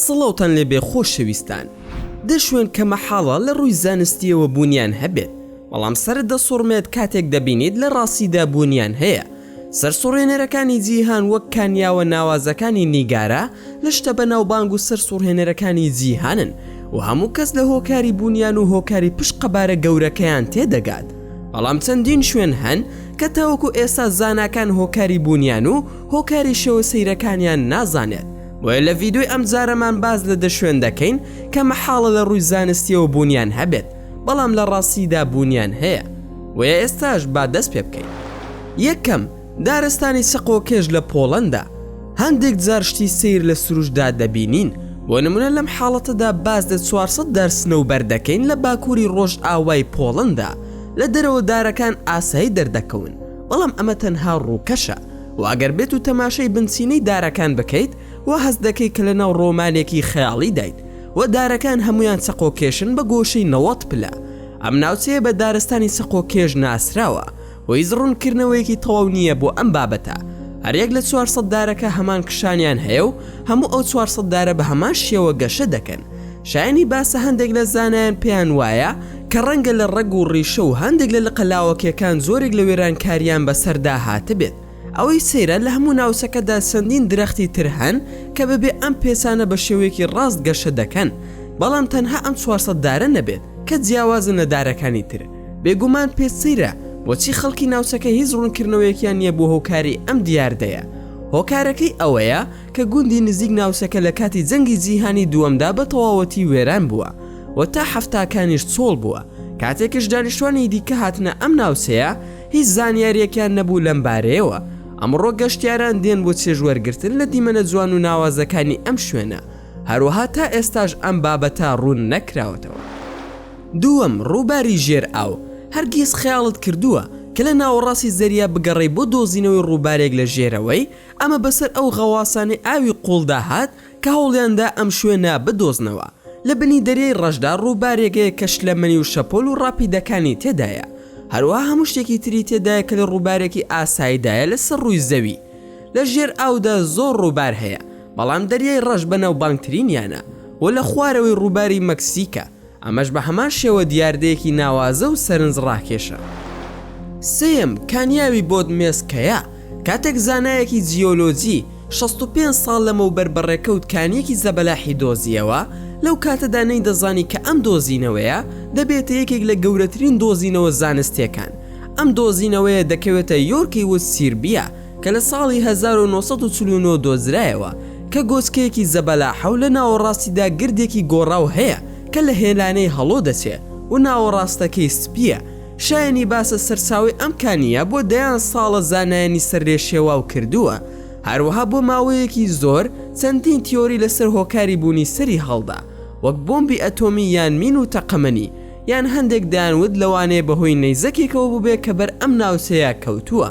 سڵاوتان لێبێ خۆشەویستان دە شوێن کە مەحاڵە لە ڕووی زانستیەوە بوونیان هەبێت بەڵام سەر دەسوڕمێت کاتێک دەبینیت لە ڕاستیدا بوونیان هەیە سەرسوڕهێنەرەکانی جیهان وەک کانیاوە ناوازەکانی نیگارا لە شتە بەناوبانگ و سەرسوڕهێنەرەکانی جیهانن و هەموو کەس لە هۆکاری بوونیان و هۆکاری پشت قەبارە گەورەکەیان تێدەگات بەڵام چەندین شوێن هەن کە تاوەکو ئێستا زاناکان هۆکاری بوونیان و هۆکاری شێوە سەیرەکانیان نازانێت بۆیە لە ڤیدۆی ئەمجارەمان باس لە دە شوێن دەکەین کە مەحاڵە لە ڕووی زانستیەوە بوونیان هەبێت. بەڵام لە ڕاستیدا بوونیان هەیە بۆیە ئێستاش با دەست پێ بکەین یەکەم دارستانی سەقۆکێش لە پۆڵەندا هەندێک جارشتی سیر لە سروشدا دەبینین بۆ نمونە لەم حاڵەتەدا باز لە 400 دارسنە و بەردەکەین لە باکووری ڕۆژ ئاوای پۆڵەندا لە دەرەوە دارەکان ئاسایی دەردەکەون بەڵام ئەمە تەنها ڕووکەشە و ئەگەر بێت و تەماشای بنچینەی دارەکان بکەیت و هەست دەکەی کە لە ناو ڕۆمانێکی خەیاڵی دایت و دارەکان هەموویان چەقۆکێشن بە گۆشەی نەوەد پلە، ئەم ناوچەیە بە دارستانی چەقۆکێش ناسراوە و هیچ ڕوونکردنەوەیەکی تەواو نییە بۆ ئەم بابەتە، هەریەک لە چوار سەد دارەکە هەمان کشانیان هەیە و هەموو ئەو چوار سەد دارە بە هەمان شێوە گەشە دەکەن، شایەنی باسە هەندێک لە زانایان پێیان وایە کە ڕەنگە لە ڕەگ و ڕیشە و هەندێک لە لقە لاوەکییەکان جۆرێک لە وێرانکارییان بەسەردا هاتبێت. ئەوەی سەیرە لە هەموو ناوچەکەدا چەندین درەختی تر هەن کە بەبێ ئەم پێچانە بە شێوەیەکی ڕاست گەشە دەکەن، بەڵام تەنها ئەم چوار سەد دارە نەبێت کە جیاوازن لە دارەکانی تر. بێگومان پێت سەیرە بۆچی خەڵکی ناوچەکە هیچ ڕوونکردنەوەیەکیان نییە بۆ هۆکاری ئەم دیاردەیە. هۆکارەکەی ئەوەیە کە گوندی نزیک ناوچەکە لە کاتی جەنگی جیهانی دووەمدا بە تەواوەتی وێران بووە و تا حەفتاکانیش چۆڵ بووە، کاتێکش دانیشتوانی دیکە هاتنە ئەم ناوچەیە، هیچ زانیاریەکیان نەبوو لەم بارەیەوە. ئەمڕۆ گەشتیاران دێن بۆ چێژ وەرگرتن لە دیمەنە جوان و ناوازەکانی ئەم شوێنە، هەروەها تا ئێستاش ئەم بابەتە ڕوون نەکراوەتەوە. دووەم، ڕووباری ژێر ئاو، هەرگیز خەیاڵت کردووە کە لە ناوەڕاستی زەریا بگەڕێی بۆ دۆزینەوەی ڕووبارێک لە ژێرەوەی، ئەمە بەسەر ئەو غەواسانەی ئاوی قووڵدا هات، کە هەوڵیاندا ئەم شوێنە بدۆزنەوە، لە بنی دەریای ڕەشدا ڕووبارێکەیە کە شلەمەنی و شەپۆل و ڕاپیدەکانی تێدایە، هەروەها هەموو شتێکی تری تێدایە کە لە ڕووبارێکی ئاسایدایە لەسەر ڕووی زەوی. لە ژێر ئاودا زۆر ڕووبار هەیە، بەڵام دەریای ڕەش بەناوبانگترینیانە و لە خوارەوەی ڕووباری مەکسیکە، ئەمەش بە هەمان شێوە دیاردەیەکی ناوازە و سەرنج ڕاکێشە. سێیەم، کانیاوی بۆدمێسکەیە، کاتێک زانایەکی جیۆلۆجی شەست و پێنج ساڵ لەمەوبەر بە ڕێکەوت کانییەکی زەبەلاحی دۆزییەوە، لەو کاتەدا نەیدەزانی کە ئەم دۆزینەوەیە دەبێتە یەکێک لە گەورەترین دۆزینەوە زانستییەکان. ئەم دۆزینەوەیە دەکەوێتە یۆرکی ووت سیربیا، کە لە ساڵی هەزار و نۆ سەد و چل و نۆ دۆزرایەوە کە گۆچکەیەکی زەبەلاحە و لە ناوەڕاستیدا گردێکی گۆڕاو هەیە کە لە هێلانەی هەڵۆ دەچێ و ناوەڕاستەکەی سپییە، شایەنی باسە سەرچاوەی ئەم کانییە بۆ دەیان ساڵە زانایانی سەر لێ شێواو کردووە، هەروەها بۆ ماوەیەکی زۆر چەندین تیۆری لەسەر هۆکاری بوونی سەری هەڵدا وەک بۆمبی ئەتۆمی یان مین و تەقەمەنی یان هەندێک دەیانوت لەوانەیە بەهۆی نەیزەکێکەوە بووبێت کە بەر ئەم ناوچەیە کەوتووە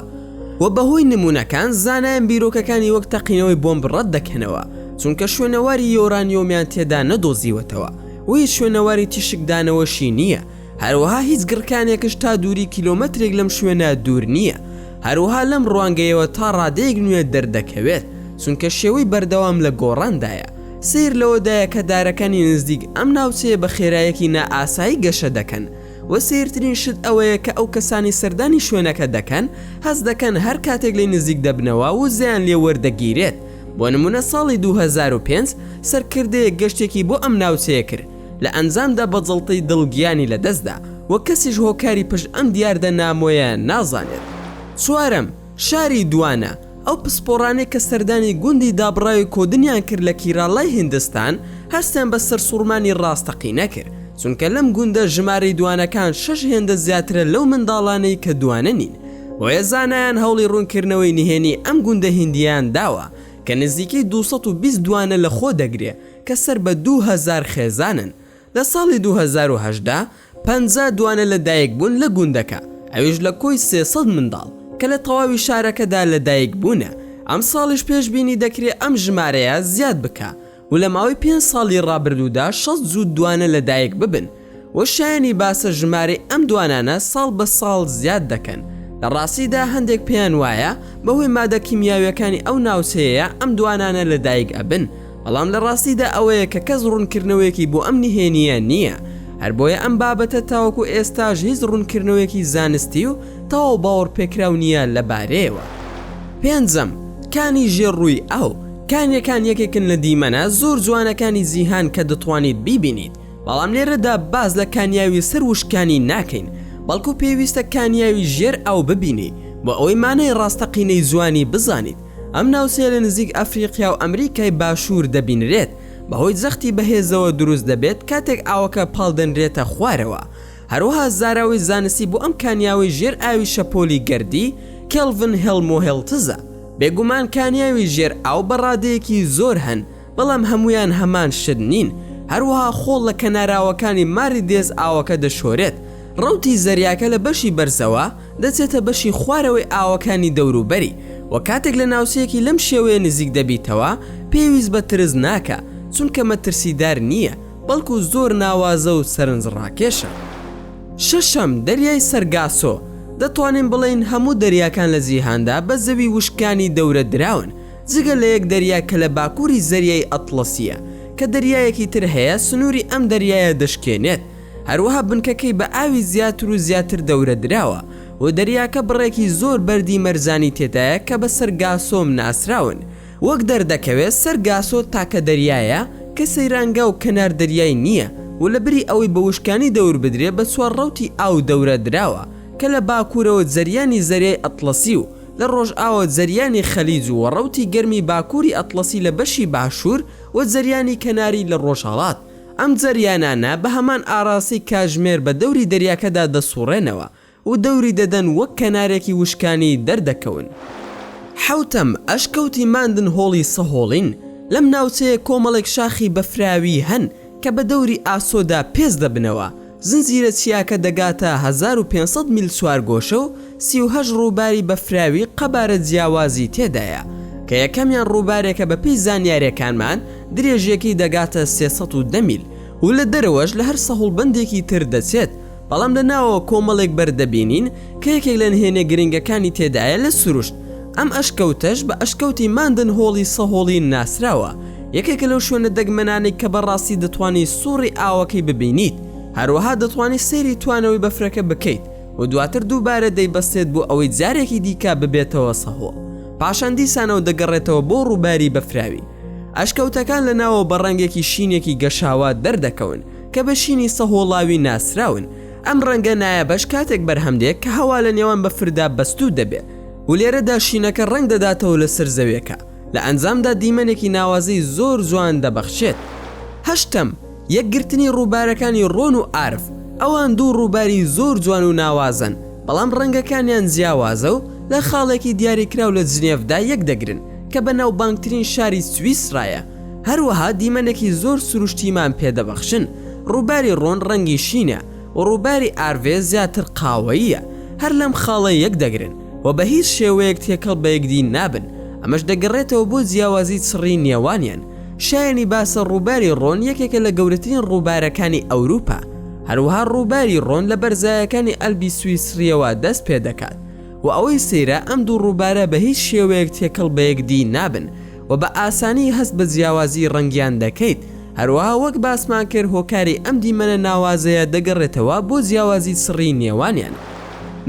و بەهۆی نموونەکان زانایان بیرۆکەکانی وەک تەقینەوەی بۆمب ڕەت دەکەنەوە چونکە شوێنەواری یۆرانیۆمیان تێدا نەدۆزیوەتەوە و هیچ شوێنەواری تیشکدانەوەشی نییە هەروەها هیچ گڕکانێکش تا دووری کیلۆمەترێک لەم شوێنە دوور نییە هەروەها لەم ڕوانگەیەوە تا ڕادەیەک نوێ دەردەکەوێت چونکە شێوەی بەردەوام لە گۆڕاندایە سەیر لەوەدایە کە دارەکانی نزدیک ئەم ناوچەیە بە خێرایەکی نائاسایی گەشە دەکەن و سەیرترین شت ئەوەیە کە ئەو کەسانەی سەردانی شوێنەکە دەکەن هەست دەکەن هەر کاتێک لێی نزیک دەبنەوە وزەیان لێ وەردەگیرێت بۆ نمونە ساڵی دوو هەزار و پێنج سەرکردەیەک گەشتێکی بۆ ئەم ناوچەیە کرد لە ئەنجامدا بە جەڵتەی دڵ گیانی لەدەستدا و کەسیش هۆکاری پشت ئەم دیاردە نامۆیە نازانێت چوارەم شاری دوانە، ئەو پسپۆڕانەی کە سەردانی گوندی دابڕاوی کۆدنیان کرد لە کیراڵای هیندستان، هەستیان بە سەرسوڕمانی ڕاستەقینە کرد، چونکە لەم گوندە ژمارەی دوانەکان شەش هێندە زیاترە لەو منداڵانەی کە دوانە نین، بۆیە زانایان هەوڵی ڕوونکردنەوەی نهێنی ئەم گوندە هیندییەیان داوە کە نزیکەی دوو سەد و بیست دوانە لەخۆدەگرێت کە سەر بە دوو هەزار خێزانن لە ساڵی دوو هەزار و هەژدە. پەنجا دوانە لە دایک بوون لە گوندەکە ئەویش لە کۆی سێ سەد منداڵ کە لە تەواوی شارەکەدا لە دایک بوونە ئەم ساڵیش پێش بینی دەکرێ ئەم ژمارەیە زیاد بکا و لە ماوەی پێنج ساڵی ڕابردوودا شەست جووت دوانە لە دایک ببن و شایەنی باسە ژمارەی ئەم دوانانە ساڵ بە ساڵ زیاد دەکەن لە ڕاستیدا هەندێک پێیان وایە بە هۆی مادە کیمیاویەکانی ئەو ناوچەیەیە ئەم دوانانە لە دایک ئەبن بەڵام لە ڕاستیدا ئەوەیە کە کەس ڕوونکردنەوەیەکی بۆ ئەم نهێنییە نییە، هەر بۆیە ئەم بابەتە تاوەکو ئێستاش هیچ ڕوونکردنەوەیەکی زانستی و تەواو باوەڕپێکراو نییە لە بارەیەوە. پێنجەم، کانی ژێر ڕووی ئاو، کانیەکان یەکێکن لە دیمەنە زۆر جوانەکانی جیهان کە دەتوانیت بیبینیت، بەڵام لێرەدا باس لە کانیاوی سەر وشکانی ناکەین، بەڵکو پێویستە کانیاوی ژێر ئاو ببینی بۆ ئەوەی مانای ڕاستەقینەی جوانی بزانیت، ئەم ناوچەیە لە نزیک ئەفریقیا و ئەمریکای باشوور دەبینرێت، بەهۆی جەختی بەهێزەوە دروست دەبێت کاتێک ئاوەکە پاڵدەنرێتە خوارەوە. هەروەها زاراوەی زانستی بۆ ئەم کانیاوەی ژێر ئاوی شەپۆلی گەردی، کێلڤن هێڵموهێڵتزە. بێگومان کانیاوی ژێر ئاو بە ڕادەیەکی زۆر هەن، بەڵام هەموویان هەمان شت نین، هەروەها خۆڵ لە کەناراوەکانی ماری دێز ئاوەکە دەشۆرێت، ڕەوتی زەریاکە لە بەشی بەرزەوە دەچێتە بەشی خوارەوەی ئاوەکانی دەوروبەری، وە کاتێک لە ناوچەیەکی لەم شێوەیە نزیک دەبیتەوە پێویست بە ترس ناکە چونکە مەترسیدار نییە بەڵکو زۆر ناوازە و سەرنجڕاکێشە. شەشەم، دەریای سەرگاسۆ، دەتوانین بڵێین هەموو دەریاکان لە جیهاندا بە زەوی وشکانی دەورە دراون، جگە لە یەک دەریا کە لە باکووری زەریای ئەتڵەسییە کە دەریایەکی تر هەیە سنووری ئەم دەریایە دەشکێنێت، هەروەها بنکەکەی بە ئاوی زیاتر و زیاتر دەورەدراوە و دەریاکە بڕێکی زۆر بەردی مەرجانی تێدایە کە بە سەرگاسۆم ناسراون، وەک دەردەکەوێت سەرگاسۆ تاکە دەریایە کە سەیرانگا و کەنار دەریای نییە و لە بری ئەوەی بە وشکانی دەوربدرێت بە چوار ڕەوتی ئاو دەورەدراوە کە لە باکوورەوە جەریانی زەریای ئەتڵەسی و لە ڕۆژئاوا زریانی خەلیج و ڕەوتی گەرمی باکووری ئەتڵەسی لە بەشی باشوور و زریانی کەناری لە ڕۆژهەڵات، ئەم زریانانە بە هەمان ئاراسی کاژمێر بە دەوری دەریاکەدا دەسووڕێنەوە و دەوری دەدەن وەک کەنارێکی وشکانی دەردەکەون. حەوتەم، ئەشکەوتی ماندن هۆڵی سەهۆڵین، لەم ناوچەیە کۆمەڵێک شاخی بەفراوی هەن کە بە دەوری ئاسۆدا پێست دەبنەوە، زنجیرە چیاکە دەگاتە هەزار و پێنج سەد میل چوارگۆشە و سی و هەشت ڕووباری بەفراوی قەبارە جیاوازی تێدایە، کە یەکەمیان ڕووبارێکە بەپێی زانیارییەکانمان درێژییەکەی دەگاتە سێ سەد و دە میل و لە دەرەوەش لە هەر سەهوڵبەندێکی تر دەچێت، بەڵام لە ناوەوە کۆمەڵێک بەرد دەبینین کە یەکێک لە نهێنیە گرنگەکانی تێدایە لە سروشت، ئەم ئەشکەوتەش بە ئەشکەوتی ماندن هۆڵی سەهۆڵین ناسراوە، یەکێکە لەو شوێنە دەگمەنانەی کە بەڕاستی دەتوانی سوڕی ئاوەکەی ببینیت، هەروەها دەتوانی سەیری توانەوەی بەفرەکە بکەیت و دواتر دووبارە دەیبەستێت بۆ ئەوەی جارێکی دیکە ببێتەوە سەهۆڵ پاشان دیسانەوە دەگەڕێتەوە بۆ ڕووباری بەفراوی ئەشکەوتەکان لە ناوەوە بە ڕەنگێکی شینێکی گەشاوە دەردەکەون کە بە شینی سەهۆڵاوی ناسراون ئەم ڕەنگە نایابەش کاتێک بەرهەم دێ کە هەوا لە نێوان بەفردا بەستوو دەبێ و لێرەدا شینەکە ڕەنگ دەداتەوە لەسەر زەویەکە لە ئەنجامدا دیمەنێکی ناوازەی زۆر جوان دەبەخشێت هەشتەم یەکگرتنی ڕووبارەکانی ڕۆن و ئارف ئەوان دوو ڕووباری زۆر جوان و ناوازەن بەڵام ڕەنگەکانیان جیاوازە و لە خاڵێکی دیاریکراو لە جنێڤدا یەکدەگرن کە بە ناوبانگترین شاری سویسرایە هەروەها دیمەنێکی زۆر سروشتیمان پێ دەبەخشن، ڕووباری ڕۆن ڕەنگی شینە و ڕووباری ئارڤێ زیاتر قاوەییە، هەر لەم خاڵە یەک دەگرن و بە هیچ شێوەیەک تێکەڵ بە یەکدی نابن، ئەمەش دەگەڕێتەوە بۆ جیاوازی چڕی نێوانیان، شایەنی باسە ڕووباری ڕۆن یەکێکە لە گەورەترین ڕووبارەکانی ئەوروپا، هەروەها ڕووباری ڕۆن لە بەرزایەکانی ئەلبی سویسرییەوە دەست پێ دەکات و ئەوەی سەیرە ئەم دوو ڕووبارە بە هیچ شێوەیەک تێکەڵ بە یەکدی نابن، و بە ئاسانی هەست بە جیاوازی ڕەنگیان دەکەیت، هەروەها وەک باسمان کرد هۆکاری ئەم دیمەنە ناوازەیە دەگەڕێتەوە بۆ جیاوازی سڕی نێوانیان.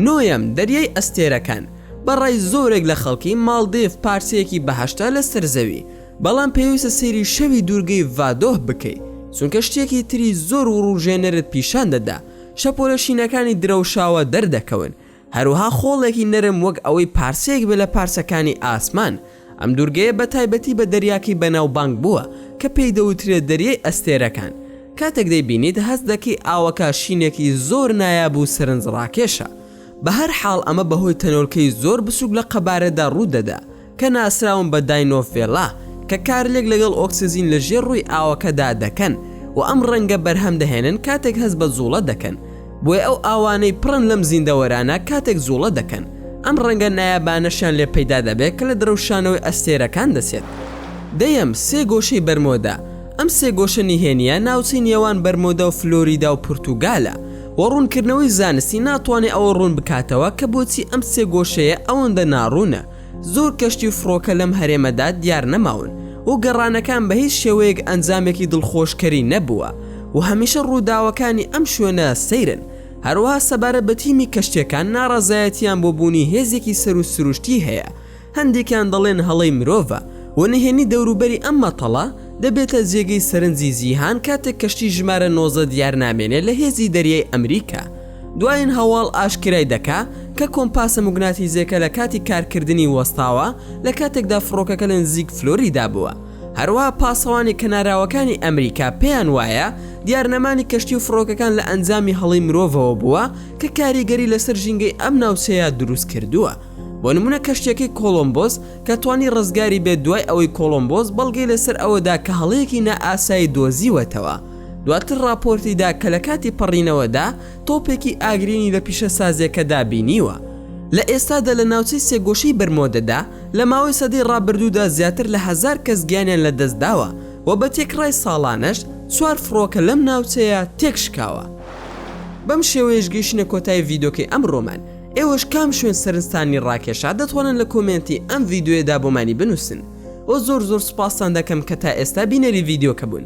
نۆیەم، دەریای ئەستێرەکان، بە ڕای زۆرێک لە خەڵکی ماڵدیڤ پارچەیەکی بەهەشتە لەسەر زەوی، بەڵام پێویستە سەیری شەوی دوورگەی ڤادۆه بکەیت چونکە شتێکی تری زۆر وڕوژێنەرت پیشان دەدا، شەپۆلە شینەکانی درەوشاوە دەردەکەون، هەروەها خۆڵێکی نەرم وەک ئەوەی پارچەیەک بێت لە پارچەکانی ئاسمان، ئەم دوورگەیە بە تایبەتی بە دەریاکەی بەناوبانگ بووە کە پێی دەوترێت دەریای ئەستێرەکان، کاتێک دەیبینیت هەست دەکەی ئاوەکە شینێکی زۆر نایاب و سەرنجڕاکێشە، بەهەرحاڵ ئەمە بەهۆی تەنۆلکەی زۆر بچووک لە قەبارەدا ڕوودەدا کە ناسراون بە داینۆفێلا کە کارلێک لەگەڵ ئۆکسجین لە ژێر ڕووی ئاوەکەدا دەکەن و ئەم ڕەنگە بەرهەم دەهێنن کاتێک هەست بە جوڵە دەکەن بۆیە ئەو ئاوانەی پڕن لەم زیندەوەرانە کاتێک جوڵە دەکەن ئەم ڕەنگە نایابانەشیان لێ پەیدا دەبێت کە لە درەوشانەوەی ئەستێرەکان دەچێت دەیەم سێ گۆشەی بەرمۆدا ئەم سێ گۆشە نهێنیە ناوچەی نێوان بەرمۆدا و فلۆریدا و پورتوگالە و ڕوونکردنەوەی زانستی ناتوانێت ئەوە ڕوون بکاتەوە کە بۆچی ئەم سێ گۆشەیە ئەوەندە ناڕوونە زۆر کەشتی و فڕۆکە لەم هەرێمەدا دیار نەماون و گەڕانەکان بە هیچ شێوەیەک ئەنجامێکی دڵخۆشکەری نەبووە و هەمیشە ڕووداوەکانی ئەم شوێنە سەیرن، هەروەها سەبارەت بە تیمی کەشتیەکان ناڕەزایەتیان بۆ بوونی هێزێکی سەروو سروشتی هەیە هەندێکیان دەڵێن هەڵەی مرۆڤە و نهێنی دەوروبەری ئەم مەتەڵە دەبێتە جێگەی سەرنجی جیهان کاتێک کەشتی ژمارە نۆزدە دیار نامێنێ لە هێزی دەریای ئەمریکا دوایین هەواڵ ئاشکرای دەکا کە کۆمپاسە موگناتیزیەکە لە کاتی کارکردنی وەستاوە لە کاتێکدا فڕۆکەکە لە نزیک فلۆریدا بووە هەروەها پاسەوانی کەناراوەکانی ئەمریکا پێیان وایە دیار نەمانی کەشتی و فڕۆکەکان لە ئەنجامی هەڵەی مرۆڤەوە بووە کە کاریگەری لەسەر ژینگەی ئەم ناوچەیە دروست کردووە بۆ نمونە کەشتیەکەی کۆڵۆمبۆس کە توانی ڕزگاری بێت دوای ئەوەی کۆڵۆمبۆس بەڵگەی لەسەر ئەوەدا کە هەڵەیەکی نائاسایی دۆزیوەتەوە دواتر ڕاپۆرتی دا کە لە کاتی پەڕینەوەدا تۆپێکی ئاگرینی لە پیشەسازییەکەدا بینیوە. لە ئێستادا لە ناوچەی سێگۆشەی بەرمۆدەدا لە ماوەی سەدەی ڕابردوودا زیاتر لە هەزار کەس گیانیان لەدەستداوە و بە تێکڕای ساڵانەش چوار فڕۆکە لەم ناوچەیە تێکشکاوە. بەم شێوەیەش گەیشتینە کۆتایی ڤیدۆکەی ئەمڕۆمان. ئێوەش کام شوێن سەرنجتانی ڕاکێشا دەتوانن لە کۆمێنتی ئەم ڤیدۆیەدا بۆمانی بنووسن. وە زۆر زۆر سوپاستان دەکەم کە تا ئێستا بینەری ڤیدۆکە بوون.